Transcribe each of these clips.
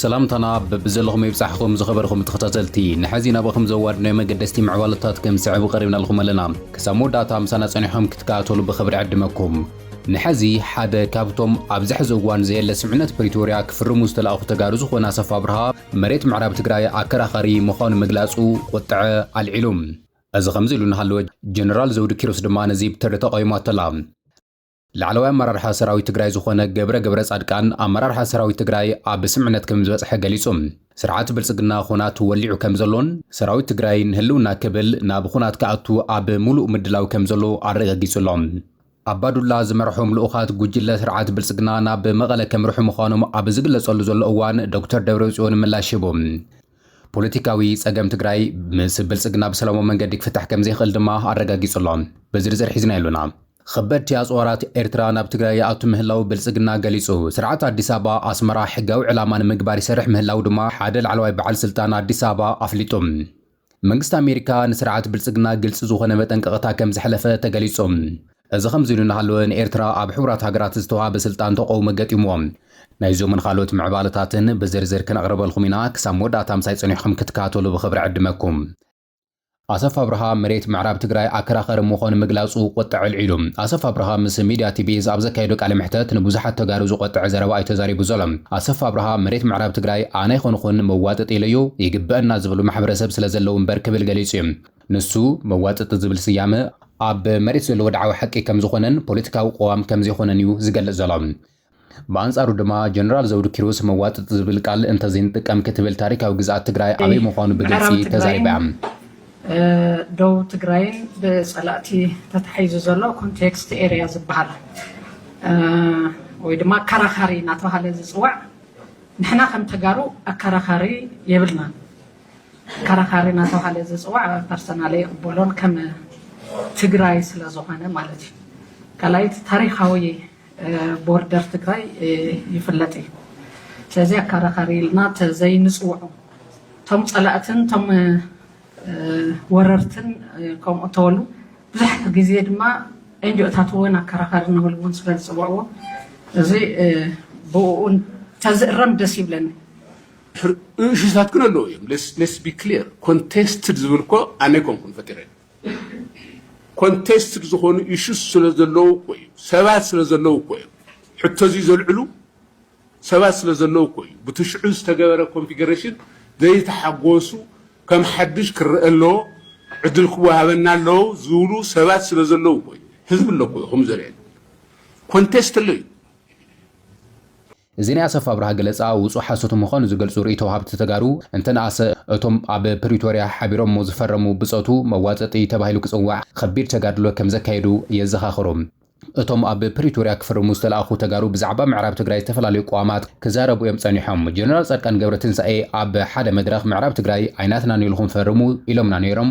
ሰላምታና በብዘለኹም ይብጻሕኹም ዝኸበርኹም ተኸታተልቲ ንሐዚ ናባኹም ዘዋድናዮ መገደስቲ ምዕባለታት ከም ዝስዕብ ቀሪብናልኹም ኣለና ክሳብ መወዳእታ ምሳና ጸኒሖም ክትከታተሉ ብኽብሪ ዕድመኩም ንሐዚ ሓደ ካብቶም ኣብዚ ሕዚ እዋን ዘየለ ስምዕነት ፕሪቶርያ ክፍርሙ ዝተላእኹ ተጋሩ ዝኾነ ኣሰፋ ብርሃ መሬት ምዕራብ ትግራይ ኣከራኻሪ ምዃኑ ምግላጹ ቁጥዐ ኣልዒሉ። እዚ ከምዚ ኢሉ እናሃለወ ጀነራል ዘውዱ ኪሮስ ድማ ነዚ ብትሪ ተቓዊማቶ'ላ። ላዕለዋይ ኣመራርሓ ሰራዊት ትግራይ ዝኾነ ገብረ ገብረጻድቃን ኣመራርሓ ሰራዊት ትግራይ ኣብ ስምምዕነት ከምዝበጽሐ ገሊጹ። ስርዓት ብልጽግና ኹናት ወሊዑ ከምዘሎን ሰራዊት ትግራይ ንህልውና ክብል ናብ ኹናት ክኣቱ ኣብ ሙሉእ ምድላው ከምዘሎ ኣረጋጊጹ'ሎ። ኣባዱላ ዝመርሖም ልኡኻት ጉጅለ ስርዓት ብልጽግና ናብ መቐለ ከምርሑ ምዃኖም ኣብ ዝግለጸሉ ዘሎ እዋን ዶክተር ደብረጽዮን ምላሽ ሂቡ። ፖለቲካዊ ጸገም ትግራይ ምስ ብልጽግና ብሰላማዊ መንገዲ ክፍታሕ ከምዘይኽእል ድማ ኣረጋጊጹ ኣሎ። ብዝርዝር ሒዝናዮ ኣሎና። ኸበድቲ ኣጽዋራት ኤርትራ ናብ ትግራይ ይኣቱ ምህላዉ ብልጽግና ገሊጹ። ስርዓት ኣዲስ ኣበባ ኣስመራ ሕጋዊ ዕላማ ንምግባር ይሰርሕ ምህላዉ ድማ ሓደ ላዕለዋይ በዓል ስልጣን ኣዲስ ኣበባ ኣፍሊጡ። መንግስቲ ኣሜሪካ ንስርዓት ብልጽግና ግልጺ ዝኾነ መጠንቀቕታ ከም ዘሕለፈ ተገሊጹ። እዚ ከምዚ ኢሉ እናሃለወ ንኤርትራ ኣብ ሕቡራት ሃገራት ዝተዋህበ ስልጣን ተቐውሞ ገጢምዎ። ናይዞምን ኻልኦት ምዕባለታትን ብዝርዝር ክነቕርበልኩም ኢና፣ ክሳብ መወዳእታ ምሳይ ጸኒሕኩም ክትከታተሉ ብኽብሪ ዕድመኩም። ኣሰፋ ኣብርሃ መሬት ምዕራብ ትግራይ ኣከራኸሪ ምኾኑ ምግላጹ ቁጥዐ ኣልዒሉ። ኣሰፋ ኣብርሃ ምስ ሚድያ ቲቪዝ ኣብ ዘካየዶ ቃለ መሕተት ንብዙሓት ተጋሩ ዝቆጥዐ ዘረባ እዩ ተዛሪቡ ዘሎ። ኣሰፋ ኣብርሃ መሬት ምዕራብ ትግራይ ኣነ ኣይኮንኹን መዋጥጢ ኢለዮ፣ ይግበእና ዝብሉ ማሕበረሰብ ስለዘለዉ እምበር ክብል ገሊፁ እዩ። ንሱ መዋጥጢ ዝብል ስያመ ኣብ መሬት ዘሎ ወድዓዊ ሓቂ ከምዝኾነን ፖለቲካዊ ቅዋም ከምዘይኾነን እዩ ዝገልፅ ዘሎ። ብኣንፃሩ ድማ ጀነራል ዘውዱ ኪሮስ መዋጥጢ ዝብል ቃል እንተዘይንጥቀም ክትብል ታሪካዊ ግዝኣት ትግራይ ኣበይ ምዃኑ ብግልፂ ተዛሪባ እያ። ዶብ ትግራይን ብፀላእቲ ተታሒዙ ዘሎ ኮንቴክስት ኤርያ ዝበሃል ወይ ድማ ኣከራኻሪ እናተባሃለ ዝፅዋዕ ንሕና ከም ተጋሩ ኣከራኻሪ የብልናን። ኣከራኻሪ እናተባሃለ ዝፅዋዕ ፐርሰናል ይቕበሎን ከም ትግራይ ስለዝኾነ ማለት እዩ። ካልኣይቲ ታሪካዊ ቦርደር ትግራይ ይፍለጥ እዩ ስለዚ ኣካራኻሪ ኢልና ተዘይንፅውዖም እቶም ፀላእትን እቶም ወረርትን ከምኡ ተበሉ ብዙሕ ግዜ ድማ ኤንጂኦታት እውን ኣከራኻሪ ንብል እውን ስለ ዝፅውዕዎ እዚ ብኡ ተዝእረም ደስ ይብለኒ እሹታት ግን ኣለዉ እዮም ሌስ ቢ ክሊር ኮንቴስትድ ዝብል እኮ ኣነ ኮንኩን ፈጢረ ኮንቴስትድ ዝኾኑ ኢሹስ ስለዘለዉ እኮ እዩ ሰባት ስለዘለዉ እኮ እዮም ሕቶ እዚ ዘልዕሉ ሰባት ስለዘለዉ እኮ እዩ ብቲ ሽዑ ዝተገበረ ኮንፊገሬሽን ዘይተሓጎሱ ከም ሓድሽ ክረአ ኣለዎ ዕድል ክወሃበና ኣለዎ ዝብሉ ሰባት ስለዘለዉ እኮ እዩ ህዝቢ ኣሎ እኮ እዩ ከምኡ ዘርእየና ኮንቴስት ኣሎ እዩ እዚ ናይ ኣሰፋ ኣብርሃ ገለፃ ውፁእ ሓሶት ምዃኑ ዝገልፁ ሪኢቶ ወሃብቲ ተጋሩ እንተነኣሰ እቶም ኣብ ፕሪቶርያ ሓቢሮሞ ዝፈረሙ ብፆቱ መዋፅእጢ ተባሂሉ ክፅዋዕ ኸቢድ ተጋድሎ ከምዘካየዱ የዘኻኽሩ። እቶም ኣብ ፕሪቶርያ ክፍርሙ ዝተልኣኹ ተጋሩ ብዛዕባ ምዕራብ ትግራይ ዝተፈላለዩ ቅዋማት ክዛረቡ እዮም ፀኒሖም። ጀነራል ፃድቃን ገብረትንሳኤ ኣብ ሓደ መድረኽ ምዕራብ ትግራይ ኣይናትናን ኢልኹም ፈርሙ ኢሎምና ነይሮም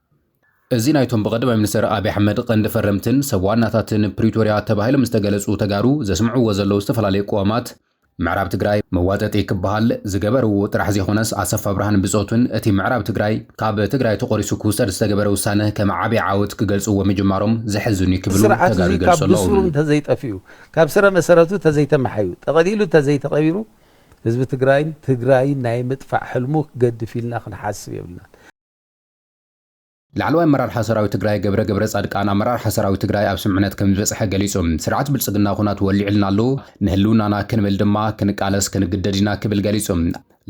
እዚ ናይቶም ብቐዳማይ ሚኒስተር ኣብይ ኣሕመድ ቐንዲ ፈረምትን ሰብ ዋናታትን ፕሪቶርያ ተባሂሎም ዝተገለፁ ተጋሩ ዘስምዕዎ ዘለዉ ዝተፈላለዩ ቅዋማት ምዕራብ ትግራይ መዋጠጢ ክበሃል ዝገበርዎ ጥራሕ ዘይኮነስ ኣሰፋ ኣብርሃን ብፆቱን እቲ ምዕራብ ትግራይ ካብ ትግራይ ተቖሪሱ ክውሰድ ዝተገበረ ውሳነ ከም ዓብይ ዓወት ክገልፅዎ ምጅማሮም ዘሕዝን እዩ ክብሉ ተጋሩ ይገልፁ ኣለዉ። እዚ ስርዓት እዙይ ካብ ብሱሩ እንተዘይጠፊኡ፣ ካብ ስረ መሰረቱ እንተዘይተመሓዩ፣ ጠቐሊሉ እንተዘይተቐቢሩ ህዝቢ ትግራይን ትግራይን ናይ ምጥፋእ ሕልሙ ክገድፍ ኢልና ክንሓስብ የብልናን። ላዕለዋይ ኣመራርሓ ሰራዊት ትግራይ ገብረ ገብረፃድቃን ኣመራርሓ ሰራዊት ትግራይ ኣብ ስምምዕነት ከምዝበፅሐ ገሊፁ። ስርዓት ብልፅግና ኹናት ወሊዑልና ኣሎ፣ ንህልውናና ክንብል ድማ ክንቃለስ ክንግደድ ኢና ክብል ገሊፁ።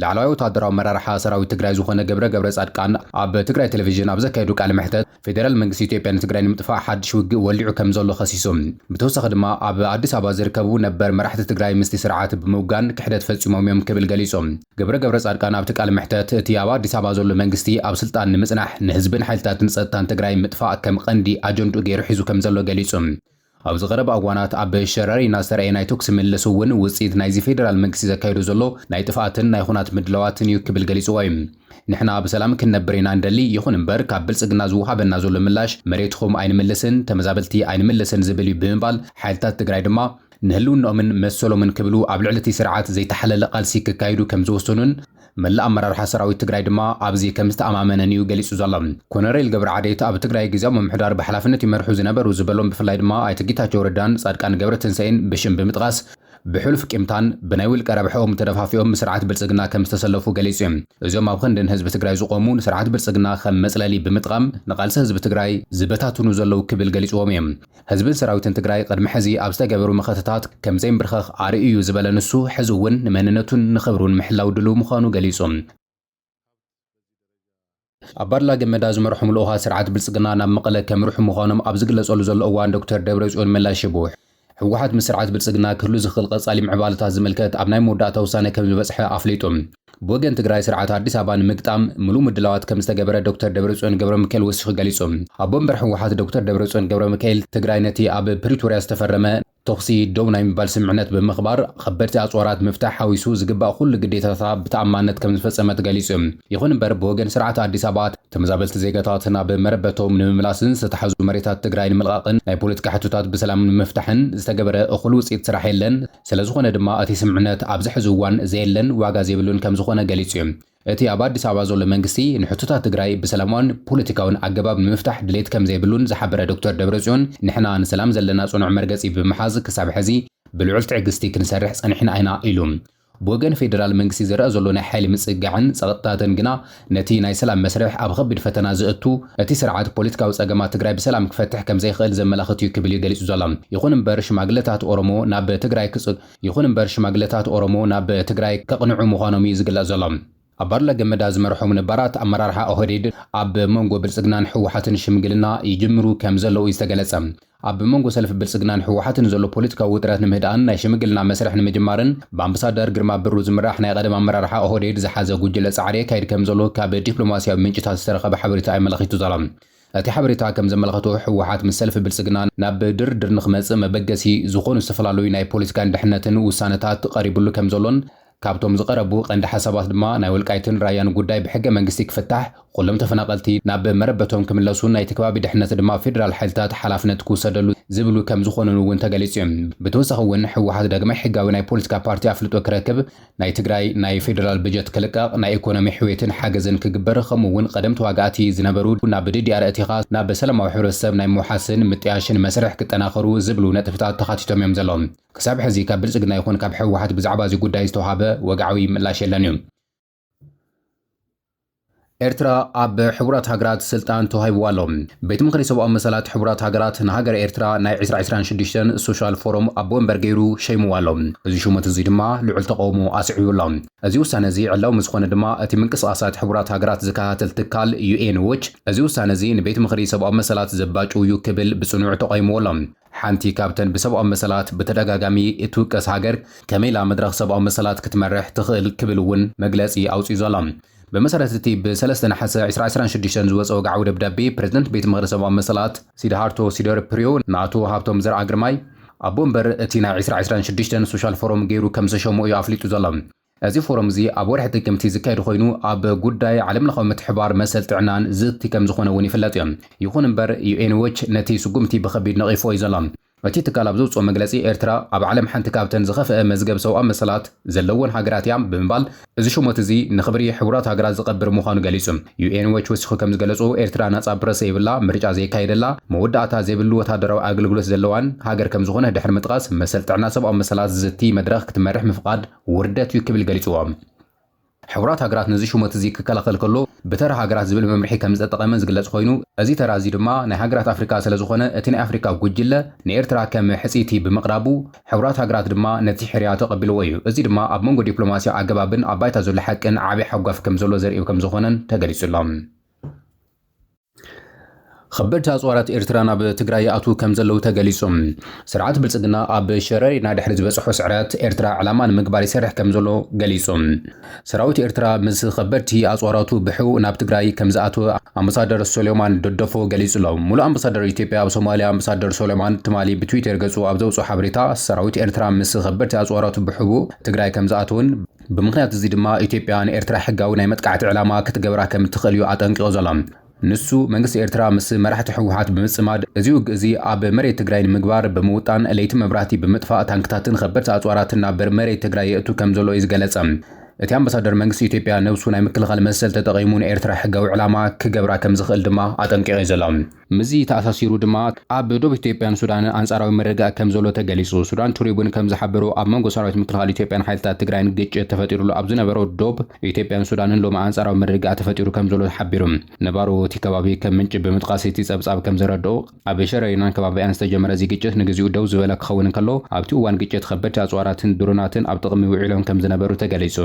ላዕለዋይ ወታደራዊ ኣመራርሓ ሰራዊት ትግራይ ዝኾነ ገብረ ገብረፃድቃን ኣብ ትግራይ ቴሌቪዥን ኣብ ዘካየዶ ቃለ መሕተት ፌዴራል መንግስቲ ኢትዮጵያ ንትግራይ ንምጥፋእ ሓድሽ ውግእ ወሊዑ ከምዘሎ ከሲሱ። ብተወሳኺ ድማ ኣብ ኣዲስ ኣበባ ዝርከቡ ነበር መራሕቲ ትግራይ ምስቲ ስርዓት ብምውጋን ክሕደት ፈፂሞም እዮም ክብል ገሊፁ። ገብረ ገብረፃድቃን ኣብቲ ቃለ መሕተት፣ እቲ ኣብ ኣዲስ ኣበባ ዘሎ መንግስቲ ኣብ ስልጣን ንምፅናሕ ንህዝብን ሓይልታትን ፀጥታን ትግራይ ምጥፋእ ከም ቐንዲ ኣጀንድኡ ገይሩ ሒዙ ከም ዘሎ ገሊፁ። ኣብዚ ቐረባ እዋናት ኣብ ሸረሪና ዝተርኣየ ናይ ተኩሲ ምልልስ እውን ውፅኢት ናይዚ ፌደራል መንግስቲ ዘካይዶ ዘሎ ናይ ጥፍኣትን ናይ ኹናት ምድላዋትን እዩ ክብል ገሊፅዎ እዩ። ንሕና ብሰላም ክንነብር ኢና ንደሊ፣ ይኹን እምበር ካብ ብልፅግና ዝወሃበና ዘሎ ምላሽ መሬትኹም ኣይንምልስን፣ ተመዛበልቲ ኣይንምልስን ዝብል እዩ ብምባል ሓይልታት ትግራይ ድማ ንህልውንኦምን መሰሎምን ክብሉ ኣብ ልዕሊ እቲ ስርዓት ዘይተሓለለ ቃልሲ ከካይዱ ከም ዝወሰኑን መላእ ኣመራርሓ ሰራዊት ትግራይ ድማ ኣብዚ ከም ዝተኣማመነን እዩ ገሊፁ ዘሎ። ኮነሬል ገብረዓዴት ኣብ ትግራይ ግዝያዊ ምምሕዳር ብሓላፍነት ይመርሑ ዝነበሩ ዝበሎም ብፍላይ ድማ ኣይተ ጌታቸው ረዳን ፃድቃን ገብረትንሳኤን ብሽም ብምጥቓስ ብሕሉፍ ቂምታን ብናይ ውልቀ ረብሐኦም ተደፋፊኦም ምስርዓት ብልፅግና ከም ዝተሰለፉ ገሊፁ እዩ። እዞም ኣብ ኽንዲ ንህዝቢ ትግራይ ዝቖሙ ንስርዓት ብልፅግና ከም መፅለሊ ብምጥቓም ንቓልሲ ህዝቢ ትግራይ ዝበታትኑ ዘለው ክብል ገሊፅዎም እዩ። ህዝብን ሰራዊትን ትግራይ ቕድሚ ሕዚ ኣብ ዝተገበሩ መኸተታት ከምዘይምብርከኽ ኣርእዩ'ዩ ዝበለ ንሱ፣ ሕዚ'ውን ንመንነቱን ንኽብሩን ምሕላው ድሉው ምዃኑ ገሊጹ። ኣባድላ ገመዳ ዝመርሖም ልኡኻት ስርዓት ብልፅግና ናብ መቐለ ከምርሑ ምዃኖም ኣብ ዝግለፀሉ ዘሎ እዋን ዶክተር ደብረፅዮን ምላሽ ሂቡ። ህወሓት ምስ ስርዓት ብልፅግና ክህሉ ዝኽእል ቐፃሊ ምዕባለታት ዝምልከት ኣብ ናይ መወዳእታ ውሳነ ከምዝበፅሐ ኣፍሊጡ። ብወገን ትግራይ ስርዓት ኣዲስ ኣበባ ንምግጣም ምሉእ ምድላዋት ከምዝተገበረ ዶክተር ደብረፅዮን ገብረሚካኤል ወሲኹ ገሊፁ። ኣቦ ወንበር ህወሓት ዶክተር ደብረፅዮን ገብረሚካኤል ትግራይ ነቲ ኣብ ፕሪቶርያ ዝተፈረመ ተኹሲ ደው ናይ ምባል ስምምዕነት ብምኽባር ኸበድቲ ኣፅዋራት ምፍታሕ ሓዊሱ ዝግባእ ኹሉ ግዴታታታ ብተኣማንነት ከምዝፈፀመት ገሊፁ። ይኹን እምበር ብወገን ስርዓት ኣዲስ ኣበባ ተመዛበልቲ ዜጋታት ናብ መረበቶም ንምምላስን ዝተታሓዙ መሬታት ትግራይ ንምልቓቕን ናይ ፖለቲካ ሕቶታት ብሰላም ንምፍታሕን ዝተገበረ እኹል ውፅኢት ስራሕ የለን ስለዝኾነ ድማ እቲ ስምዕነት ኣብዚ ሕዚ እዋን ዘየለን ዋጋ ዘይብሉን ከምዝኾነ ገሊፁ ዩ። እቲ ኣብ ኣዲስ ኣበባ ዘሎ መንግስቲ ንሕቶታት ትግራይ ብሰላማዊን ፖለቲካዊን ኣገባብ ንምፍታሕ ድሌት ከምዘይብሉን ዝሓበረ ዶክተር ደብረፅዮን ንሕና ንሰላም ዘለና ፅኑዕ መርገፂ ብምሓዝ ክሳብ ሕዚ ብልዑል ትዕግስቲ ክንሰርሕ ፀኒሕና ኢና ኢሉ። ብወገን ፌዴራል መንግስቲ ዝረኣ ዘሎ ናይ ሓይሊ ምፅጋዕን ፀቕጥታትን ግና ነቲ ናይ ሰላም መስርሕ ኣብ ኸቢድ ፈተና ዘእቱ፣ እቲ ስርዓት ፖለቲካዊ ፀገማት ትግራይ ብሰላም ክፈትሕ ከምዘይኽእል ዘመላኽት እዩ ክብል እዩ ገሊፁ ዘሎ። ይኹን እምበር ሽማግለታት ኦሮሞ ናብ ትግራይ ክፅ ይኹን እምበር ሽማግለታት ኦሮሞ ናብ ትግራይ ከቕንዑ ምዃኖም እዩ ዝግለፅ ዘሎ። ኣባዱላ ገመዳ ዝመርሖም ነባራት ኣመራርሓ ኦህዴድ ኣብ መንጎ ብልፅግናን ህወሓትን ሽምግልና ይጅምሩ ከምዘለዉ እዩ ዝተገለፀ። ኣብ መንጎ ሰልፊ ብልጽግናን ህወሓትን ዘሎ ፖለቲካዊ ውጥረት ንምህዳእን ናይ ሽምግልና መስርሕ ንምጅማርን ብኣምብሳደር ግርማ ብሩ ዝምራሕ ናይ ቐደም ኣመራርሓ ኦህዴድ ዝሓዘ ጉጅለ ጻዕሪ የካይድ ከምዘሎ ካብ ዲፕሎማስያዊ ምንጭታት ዝተረኸበ ሓበሬታ የመላኺቱ ዘሎ። እቲ ሓበሬታ ከም ዘመላኸቶ ህወሓት ምስ ሰልፊ ብልጽግና ናብ ድርድር ንክመጽእ መበገሲ ዝኾኑ ዝተፈላለዩ ናይ ፖለቲካን ድሕነትን ውሳነታት ቐሪብሉ ከምዘሎን ካብቶም ዝቐረቡ ቀንዲ ሓሳባት ድማ ናይ ወልቃይትን ራያን ጉዳይ ብሕገ መንግስቲ ክፍታሕ፣ ኹሎም ተፈናቐልቲ ናብ መረበቶም ክምለሱን ናይቲ ከባቢ ድሕነት ድማ ፌደራል ሓይልታት ሓላፍነት ክውሰደሉ ዝብሉ ከምዝኾኑን እውን ተገሊፁ ዩ። ብተወሳኺ እውን ህወሓት ዳግማይ ሕጋዊ ናይ ፖለቲካ ፓርቲ ኣፍልጦ ክረክብ፣ ናይ ትግራይ ናይ ፌደራል በጀት ክልቀቕ፣ ናይ ኢኮኖሚ ሕውየትን ሓገዝን ክግበር ኸምኡ እውን ቐደም ተዋጋእቲ ዝነበሩ ናብ ዲዲኣር ኣእቲኻ ናብ ሰላማዊ ሕብረተሰብ ናይ ምውሓስን ምጥያሽን መስርሕ ክጠናኸሩ ዝብሉ ነጥብታት ተኻቲቶም ዮም ዘለዉ። ክሳብ ሕዚ ካብ ብልፅግና ይኹን ካብ ህወሓት ብዛዕባ እዚ ጉዳይ ዝተውሃበ ወግዓዊ ምላሽ የለን እዩ። ኤርትራ ኣብ ሕቡራት ሃገራት ስልጣን ተዋሂብዋ ኣሎ። ቤት ምኽሪ ሰብኣዊ መሰላት ሕቡራት ሃገራት ንሃገረ ኤርትራ ናይ ዕስራ ዕስራን ሽዱሽተን ሶሻል ፎረም ኣቦ ወንበር ገይሩ ሸይምዋ ኣሎ። እዚ ሹመት እዚ ድማ ልዑል ተቓውሞ ኣስዒቡ ኣሎ። እዚ ውሳነ እዚ ዕላዊ ምስ ኾነ ድማ እቲ ምንቅስቓሳት ሕቡራት ሃገራት ዝከታተል ትካል ዩኤን ዎች እዚ ውሳነ እዚ ንቤት ምኽሪ ሰብኣዊ መሰላት ዘባጭው እዩ ክብል ብፅኑዕ ተቓዊምዎ ኣሎ። ሓንቲ ካብተን ብሰብኣዊ መሰላት ብተደጋጋሚ እትውቀስ ሃገር ከመይ ኢላ መድረኽ ሰብኣዊ መሰላት ክትመርሕ ትኽእል ክብል እውን መግለጺ ኣውጺኡ ዘሎ። ብመሰረት እቲ ብ ሰለስተ ነሓሰ ዕስራ ዕስራን ሽዱሽተን ዝወጸ ወግዓዊ ደብዳቤ ፕረዚደንት ቤት ምኽሪ ሰብኣዊ መሰላት፣ ሲድሃርቶ ሲደርፕርዮ ንኣቶ ሃብቶም ዘርኣግርማይ ኣቦ ወንበር እቲ ናይ ዕስራ ዕስራን ሽዱሽተን ሶሻል ፎረም ገይሩ ከምዘሸሞ እዩ ኣፍሊጡ ዘሎ። እዚ ፎረም እዚ ኣብ ወርሒ ጥቅምቲ ዝካየድ ኾይኑ ኣብ ጉዳይ ዓለምለኻዊ ምትሕብባር መሰል ጥዕናን ዝቲ ከም ዝኾነ እውን ይፍለጥ እዩ። ይኹን እምበር ዩኤን ዎች ነቲ ስጉምቲ ብኸቢድ ነቒፍዎ እዩ ዘሎ። እቲ ትካል ኣብ ዘውፅኦ መግለፂ ኤርትራ ኣብ ዓለም ሓንቲ ካብተን ዝኸፍኣ መዝገብ ሰውኣዊ መሰላት ዘለወን ሃገራት እያ ብምባል እዚ ሹመት እዚ ንኽብሪ ሕቡራት ሃገራት ዝቐብር ምዃኑ ገሊፁ። ዩኤን ዎች ወሲኹ ከም ዝገለፆ ኤርትራ ናፃ ፕረስ ዘይብላ፣ ምርጫ ዘይካየደላ፣ መወዳእታ ዘይብሉ ወታደራዊ ኣገልግሎት ዘለዋን ሃገር ከም ዝኾነ ድሕሪ ምጥቓስ መሰል ጥዕና ሰብኣዊ መሰላት ዝቲ መድረኽ ክትመርሕ ምፍቓድ ውርደት እዩ ክብል ገሊጽዎ። ሕቡራት ሃገራት ነዚ ሹመት እዚ ክከላኸል ከሎ ብተራ ሃገራት ዝብል መምርሒ ከም ዝተጠቐመ ዝግለጽ ኮይኑ፣ እዚ ተራ እዚ ድማ ናይ ሃገራት ኣፍሪቃ ስለ ዝኾነ እቲ ናይ ኣፍሪቃ ጉጅለ ንኤርትራ ከም ሕጽይቲ ብምቕራቡ ሕቡራት ሃገራት ድማ ነቲ ሕርያ ተቐቢልዎ እዩ። እዚ ድማ ኣብ መንጎ ዲፕሎማስያዊ ኣገባብን ኣብ ባይታ ዘሎ ሓቅን ዓቢ ሓጓፍ ከም ዘሎ ዘርኢ ከም ዝኾነን ተገሊጹ ኣሎ። ኸበድቲ ኣፅዋራት ኤርትራ ናብ ትግራይ ይኣትዉ ከም ዘለዉ ተገሊፁ። ስርዓት ብልፅግና ኣብ ሸረሪና ድሕሪ ዝበፅሖ ስዕረት ኤርትራ ዕላማ ንምግባር ይሰርሕ ከም ዘሎ ገሊፁ። ሰራዊት ኤርትራ ምስ ኸበድቲ ኣፅዋራቱ ብሕቡእ ናብ ትግራይ ከም ዝኣተወ ኣምባሳደር ሶሌማን ደደፎ ገሊፁ ኣሎ። ሙሉእ ኣምባሳደር ኢትዮጵያ ኣብ ሶማሊያ ኣምባሳደር ሶሌማን ትማሊ ብትዊተር ገፁ ኣብ ዘውፅኦ ሓበሬታ ሰራዊት ኤርትራ ምስ ኸበድቲ ኣፅዋራቱ ብሕቡእ ትግራይ ከም ዝኣተወን ብምኽንያት እዚ ድማ ኢትዮጵያ ንኤርትራ ሕጋዊ ናይ መጥቃዕቲ ዕላማ ክትገብራ ከም እትኽእል እዩ ኣጠንቂቑ ዘሎ። ንሱ፣ መንግስቲ ኤርትራ ምስ መራሕቲ ህወሓት ብምጽማድ እዚ ውግእ እዚ ኣብ መሬት ትግራይ ንምግባር ብምውጣን ለይቲ መብራህቲ ብምጥፋእ ታንክታትን ኸበድቲ ኣጽዋራትን ናብ መሬት ትግራይ የእቱ ከም ዘሎ እዩ ዝገለጸ። እቲ ኣምባሳደር መንግስቲ ኢትዮጵያ ነብሱ ናይ ምክልኻል መሰል ተጠቒሙ ንኤርትራ ሕጋዊ ዕላማ ክገብራ ከም ዝኽእል ድማ ኣጠንቂቑ እዩ ዘሎ። ምስዚ ተኣሳሲሩ ድማ ኣብ ዶብ ኢትዮጵያን ሱዳንን ኣንጻራዊ ምርግጋእ ከም ዘሎ ተገሊጹ። ሱዳን ትሪቡን ከም ዝሓበሮ ኣብ መንጎ ሰራዊት ምክልኻል ኢትዮጵያን ሓይልታት ትግራይን ግጭት ተፈጢሩሉ ኣብ ዝነበሮ ዶብ ኢትዮጵያን ሱዳንን ሎሚ ኣንጻራዊ ምርግጋእ ተፈጢሩ ከም ዘሎ ሓቢሩ። ነባሮ እቲ ከባቢ ከም ምንጪ ብምጥቓስ እቲ ጸብጻብ ከም ዘረድኦ ኣብ ሸረሪናን ከባቢኣን ዝተጀመረ እዚ ግጭት ንግዚኡ ደው ዝበለ ክኸውን እንከሎ ኣብቲ እዋን ግጭት ከበድቲ ኣጽዋራትን ድሮናትን ኣብ ጥቕሚ ውዒሎም ከም ዝነበሩ ተገሊጹ።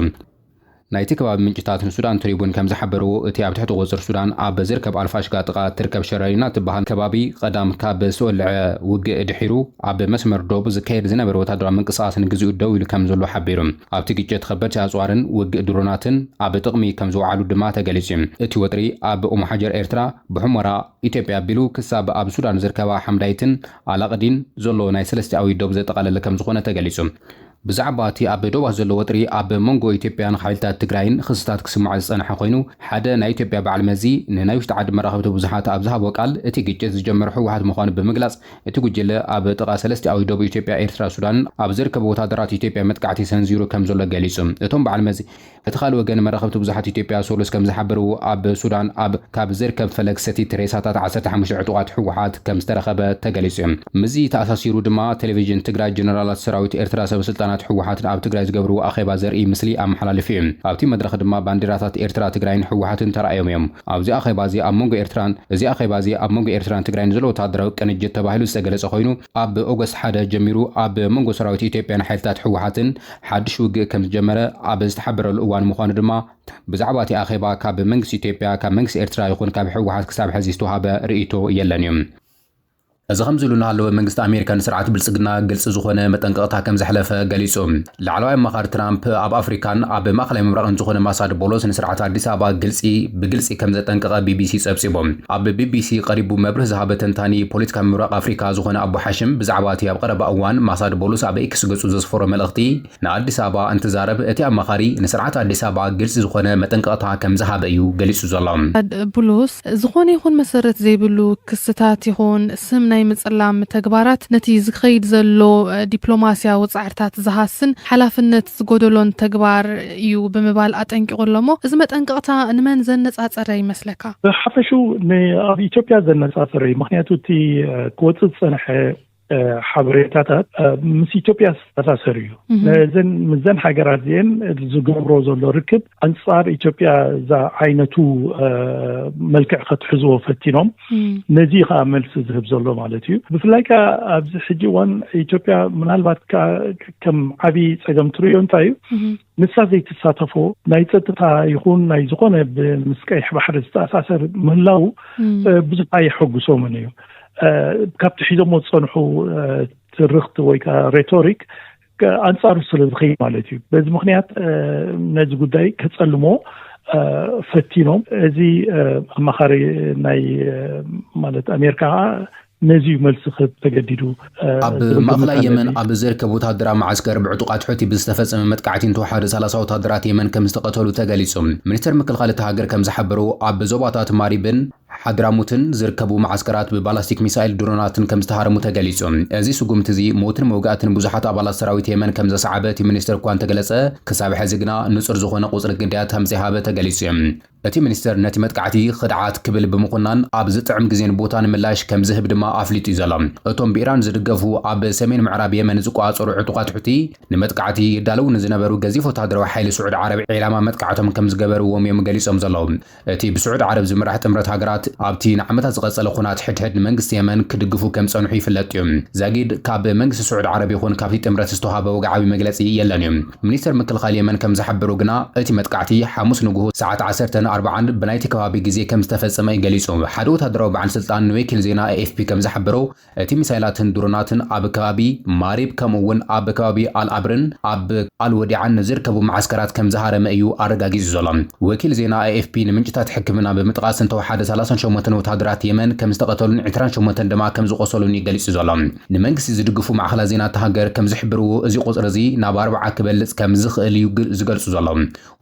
ናይቲ ከባቢ ምንጭታት ንሱዳን ትሪቡን ከም ዝሓበርዎ፣ እቲ ኣብ ትሕቲ ቁጽጽር ሱዳን ኣብ ዝርከብ ኣልፋሽጋ ጥቓ እትርከብ ሸረሪና እትበሃል ከባቢ፣ ቐዳም ካብ ዝተወልዐ ውግእ ድሒሩ፣ ኣብ መስመር ዶብ ዝካየድ ዝነበረ ወተሃደራዊ ምንቅስቓስ ንግዚኡ ደው ኢሉ ከም ዘሎ ሓቢሩ። ኣብቲ ግጭት ኸበድቲ ኣጽዋርን ውግእ ድሮናትን ኣብ ጥቕሚ ከም ዝወዓሉ ድማ ተገሊጹ። እቲ ወጥሪ ኣብ ኡምሓጀር ኤርትራ፣ ብሑመራ ኢትዮጵያ ኣቢሉ ክሳብ ኣብ ሱዳን ዝርከባ ሓምዳይትን ኣላቅዲን ዘሎ ናይ ሰለስቲኣዊ ዶብ ዘጠቓለለ ከም ዝኾነ ተገሊጹ። ብዛዕባ እቲ ኣብ ዶባት ዘሎ ወጥሪ ኣብ መንጎ ኢትዮጵያን ሓይልታት ትግራይን ኽስታት ክስማዕ ዝፀንሐ ኮይኑ ሓደ ናይ ኢትዮጵያ በዓል መዚ ንናይ ውሽጢ ዓዲ መራኸብቲ ብዙሓት ኣብ ዝሃቦ ቃል እቲ ግጭት ዝጀመሮ ህወሓት ምዃኑ ብምግላፅ እቲ ጉጅለ ኣብ ጥቓ ሰለስቲኣዊ ዶብ ኢትዮጵያ ኤርትራ ሱዳንን ኣብ ዝርከቡ ወታደራት ኢትዮጵያ መጥቃዕቲ ሰንዚሩ ከምዘሎ ገሊፁ እቶም በዓል መዚ በቲ ካልእ ወገን መራኸብቲ ብዙሓት ኢትዮጵያ ሰሉስ ከምዝሓበርዎ ኣብ ሱዳን ኣብ ካብ ዝርከብ ፈለግ ሰቲት ሬሳታት ዓሰርተ ሓሙሽተ ዕጡቓት ህወሓት ከምዝተረኸበ ተገሊፁ። ምስዚ ተኣሳሲሩ ድማ ቴሌቪዥን ትግራይ ጀነራላት ሰራዊት ኤርትራ ሰበስልጣናት ህወሓትን ኣብ ትግራይ ዝገብርዎ ኣኼባ ዘርእይ ምስሊ ኣመሓላሊፉ እዩ። ኣብቲ መድረኽ ድማ ባንዴራታት ኤርትራ፣ ትግራይን ህወሓትን ተራእዮም እዮም። ኣብዚ ኣኼባ እዚ ኣብ መንጎ ኤርትራን እዚ ኣኼባ እዚ ኣብ መንጎ ኤርትራን ትግራይን ዘሎ ወተሃደራዊ ቅንጅት ተባሂሉ ዝተገለፀ ኮይኑ ኣብ ኦገስት ሓደ ጀሚሩ ኣብ መንጎ ሰራዊት ኢትዮጵያን ሓይልታት ህወሓትን ሓድሽ ውግእ ከም ዝጀመረ ኣብ ዝተሓበረሉ እዋን ምዃኑ ድማ ብዛዕባ እቲ ኣኼባ ካብ መንግስቲ ኢትዮጵያ፣ ካብ መንግስቲ ኤርትራ ይኹን ካብ ህወሓት ክሳብ ሐዚ ዝተውሃበ ርእይቶ የለን እዩ። እዚ ከምዚ'ሉ እናሃለወ መንግስቲ ኣሜሪካ ንስርዓት ብልጽግና ግልጺ ዝኾነ መጠንቀቕታ ከም ዘሕለፈ ገሊጹ። ላዕለዋይ ኣማኻሪ ትራምፕ ኣብ ኣፍሪካን ኣብ ማእከላይ ምብራቕን ዝኾነ ማሳድ ቦሎስ ንስርዓት ኣዲስ ኣበባ ግልጺ ብግልጺ ከም ዘጠንቀቐ ቢቢሲ ጸብጺቡ። ኣብ ቢቢሲ ቀሪቡ መብርህ ዝሃበ ተንታኒ ፖለቲካ ምብራቕ ኣፍሪቃ ዝኾነ ኣቡ ሓሽም ብዛዕባ እቲ ኣብ ቐረባ እዋን ማሳድ ቦሉስ ኣብ ኤክስ ገጹ ዘስፈሮ መልእኽቲ ንኣዲስ ኣበባ እንትዛረብ እቲ ኣማኻሪ ንስርዓት ኣዲስ ኣበባ ግልጺ ዝኾነ መጠንቀቕታ ከም ዝሃበ እዩ ገሊጹ ዘሎ። ቦሉስ ዝኾነ ይኹን መሰረት ዘይብሉ ክስታት ይኹን ስም ናይ ምጽላም ተግባራት ነቲ ዝኸይድ ዘሎ ዲፕሎማስያዊ ጻዕርታት ዝሃስን ሓላፍነት ዝጎደሎን ተግባር እዩ ብምባል ኣጠንቂቑ ኣሎ'ሞ፣ እዚ መጠንቀቕታ ንመን ዘነጻጸረ ይመስለካ? ብሓፈሽኡ ንኣብ ኢትዮጵያ ዘነጻጸረ እዩ። ምኽንያቱ እቲ ክወጽእ ዝጸንሐ ሓበሬታታት ምስ ኢትዮጵያ ዝተኣሳሰር እዩ። ነዘን ምስዘን ሃገራት እዚኤን ዝገብሮ ዘሎ ርክብ ኣንጻር ኢትዮጵያ ዝዓይነቱ መልክዕ ከትሕዝዎ ፈቲኖም። ነዚ እዩ ከዓ መልሲ ዝህብ ዘሎ ማለት እዩ ብፍላይ ከዓ ኣብዚ ሕጂ እዋን ኢትዮጵያ ምናልባት ከዓ ከም ዓብዪ ፀገም ትርእዮ እንታይ እዩ ንሳ ዘይትሳተፎ ናይ ፀጥታ ይኹን ናይ ዝኾነ ምስ ቀይሕ ባሕሪ ዝተኣሳሰር ምህላው ብዙሕ ኣየሐጉሶምን እዩ ካብቲ ሒዞሞ ዝፀንሑ ትርኽቲ ወይ ከዓ ሬቶሪክ ኣንጻሩ ስለ ዝኸይ ማለት እዩ በዚ ምክንያት ነዚ ጉዳይ ከጸልሞ ፈቲኖም እዚ ኣማኻሪ ናይ ማለት ኣሜሪካ ከዓ ነዚ እዩ መልሲ ክህብ ተገዲዱ ኣብ ማእኸላይ የመን ኣብ ዝርከብ ወታደራዊ መዓስከር ብዕጡቃት ሑቲ ብዝተፈፀመ መጥቃዕቲ እንተወሓደ 30 ወታደራት የመን ከም ዝተቐተሉ ተገሊፁ። ሚኒስተር ምክልኻል እታ ሃገር ከም ዝሓበሮ ኣብ ዞባታት ማሪብን ሓድራሞትን ዝርከቡ መዓስከራት ብባላስቲክ ሚሳይል ድሮናትን ከም ዝተሃረሙ ተገሊጹ። እዚ ስጉምቲ'ዚ ሞትን መውጋእትን ብዙሓት ኣባላት ሰራዊት የመን ከም ዘስዓበ እቲ ሚኒስተር እኳ እንተገለጸ፣ ክሳብ ሕዚ ግና ንጹር ዝኾነ ቁጽሪ ግዳያት ከም ዘይሃበ ተገሊጹ። እቲ ሚኒስተር ነቲ መጥቃዕቲ ኽድዓት ክብል ብምኹናን ኣብ ዝጥዕም ግዜን ቦታን ምላሽ ከም ዝህብ ድማ ኣፍሊጡ'ዩ ዘሎ። እቶም ብኢራን ዝድገፉ ኣብ ሰሜን ምዕራብ የመን ዝቆጻጸሩ ዕጡቓት ሑቲ፣ ንመጥቃዕቲ ይዳለዉ ንዝነበሩ ገዚፍ ወተሃደራዊ ሓይሊ ስዑድ ዓረብ ዒላማ መጥቃዕቶም ከም ዝገበርዎም'ዮም ገሊጾም ዘለዉ። እቲ ብስዑድ ዓረብ ዝምራሕ ጥምረት ሃገራት ኣብቲ ንዓመታት ዝቐጸለ ኹናት ሕድሕድ ንመንግስቲ የመን ክድግፉ ከም ዝጸንሑ ይፍለጥ እዩ። ዛጊድ ካብ መንግስቲ ስዑድ ዓረብ ይኹን ካብቲ ጥምረት ዝተውሃበ ወግዓዊ መግለጺ የለን እዩ። ሚኒስተር ምክልኻል የመን ከም ዝሓበሮ ግና እቲ መጥቃዕቲ ሓሙስ ንጉሁ ሰዓት ዓሰርተ ን ኣርብዓን ብናይቲ ከባቢ ግዜ ከም ዝተፈጸመ እዩ ገሊጹ። ሓደ ወተሃደራዊ በዓል ስልጣን ንወኪል ዜና ኤኤፍፒ ከም ዝሓበሮ፣ እቲ ሚሳይላትን ድሮናትን ኣብ ከባቢ ማሪብ ከምኡ'ውን ኣብ ከባቢ ኣል-ኣብርን ኣብ ኣል-ወዲዓን ንዝርከቡ መዓስከራት ከም ዝሃረመ እዩ ኣረጋጊጹ ዘሎ። ወኪል ዜና ኤኤፍፒ ንምንጭታት ሕክምና ብምጥቓስ እንተወሓደ ሰላሳን ሸሞንተን ወተሃደራት የመን ከም ዝተቐተሉን ዕስራን ሸሞንተን ድማ ከም ዝቖሰሉን እዩ ገሊጹ ዘሎ። ንመንግስቲ ዝድግፉ ማዕኸናት ዜና እታ ሃገር ከም ዝሕብርዎ እዚ ቁጽሪ እዚ ናብ ኣርብዓ ክበልጽ ከም ዝኽእል እዩ ዝገልጹ ዘሎ።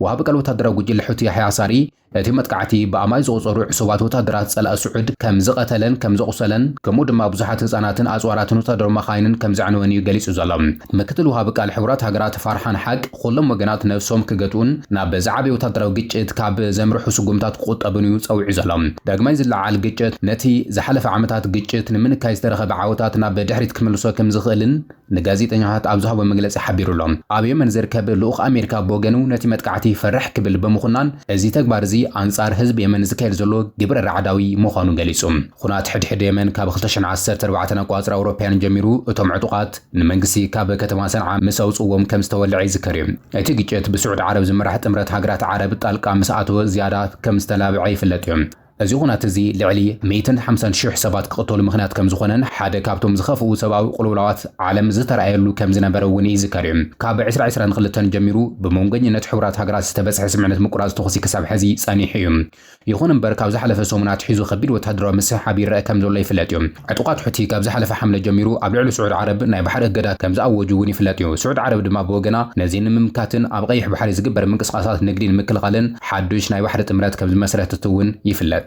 ወሃቢ ቃል ወተሃደራዊ ጉጅለ ሑቲ ያሕያ ሳሪ፣ እቲ መጥቃዕቲ ብኣማኢት ዝቑጸሩ ዕሱባት ወተሃደራት ጸላኢ ስዑድ ከም ዝቐተለን ከም ዘቑሰለን ከምኡ ድማ ብዙሓት ህጻናትን ኣጽዋራትን ወተሃደራዊ መኻይንን ከም ዘዕነወን እዩ ገሊጹ ዘሎ ምክትል ወሃቢ ቃል ሕቡራት ሃገራት ፋርሓን ሓቅ ኹሎም ወገናት ነብሶም ክገትኡን ናብ ዝዓበየ ወተሃደራዊ ግጭት ካብ ዘምርሑ ስጉምታት ክቑጠቡን እዩ ጸዊዑ ዘሎ ዳግማይ ዝለዓል ግጭት ነቲ ዝሓለፈ ዓመታት ግጭት ንምንካይ ዝተረኸበ ዓወታት ናብ ድሕሪት ክምልሶ ከም ዝኽእልን ንጋዜጠኛታት ኣብ ዝሃቦ መግለጺ ሓቢሩ'ሎ። ኣብ የመን ዝርከብ ልኡኽ ኣሜሪካ ብወገኑ ነቲ መጥቃዕቲ ፈርሕ ክብል ብምኹናን እዚ ተግባር እዚ ኣንጻር ህዝቢ የመን ዝካየድ ዘሎ ግብረ ራዕዳዊ ምዃኑ ገሊጹ። ኹናት ሕድሕድ የመን ካብ ክልተ ሽሕን ዓሰርተ ኣርባዕተን ኣቋጽራ ኣውሮፓያን ጀሚሩ እቶም ዕጡቓት ንመንግስቲ ካብ ከተማ ሰንዓ ምስ ኣውጽእዎም ከም ዝተወልዐ ይዝከር'ዩ። እቲ ግጭት ብስዑድ ዓረብ ዝምራሕ ጥምረት ሃገራት ዓረብ ጣልቃ ምስ ኣተወ ዝያዳ ከም ዝተላብዐ ይፍለጥ'ዩ። እዚ ዅናት እዚ ልዕሊ ሚእትን ሓምሳን ሽሕ ሰባት ክቕተሉ ምኽንያት ከም ዝዀነን ሓደ ካብቶም ዝኸፍኡ ሰብኣዊ ቅልውላዋት ዓለም ዝተራእየሉ ከም ዝነበረ እውን ይዝከር እዩ። ካብ ዕስራ ዕስራን ክልተን ጀሚሩ ብመንጐኝነት ሕቡራት ሃገራት ዝተበጽሐ ስምምዕነት ምቍራጽ ተዅሲ ክሳብ ሕዚ ጸኒሑ እዩ። ይዅን እምበር ካብ ዝሓለፈ ሰሙን ኣትሒዙ ከቢድ ወተሃደራዊ ምስሕሓብ ይረኣ ከም ዘሎ ይፍለጥ እዩ። ዕጡቓት ሑቲ ካብ ዝሓለፈ ሓምለ ጀሚሩ ኣብ ልዕሊ ስዑድ ዓረብ ናይ ባሕሪ እገዳ ከም ዝኣወጁ እውን ይፍለጥ እዩ። ስዑድ ዓረብ ድማ ብወገና ነዚ ንምምካትን ኣብ ቐይሕ ባሕሪ ዝግበር ምንቅስቓሳት ንግዲ ንምክልኻልን ሓዱሽ ናይ ባሕሪ ጥምረት ከም ዝመስረተት እውን ይፍለጥ።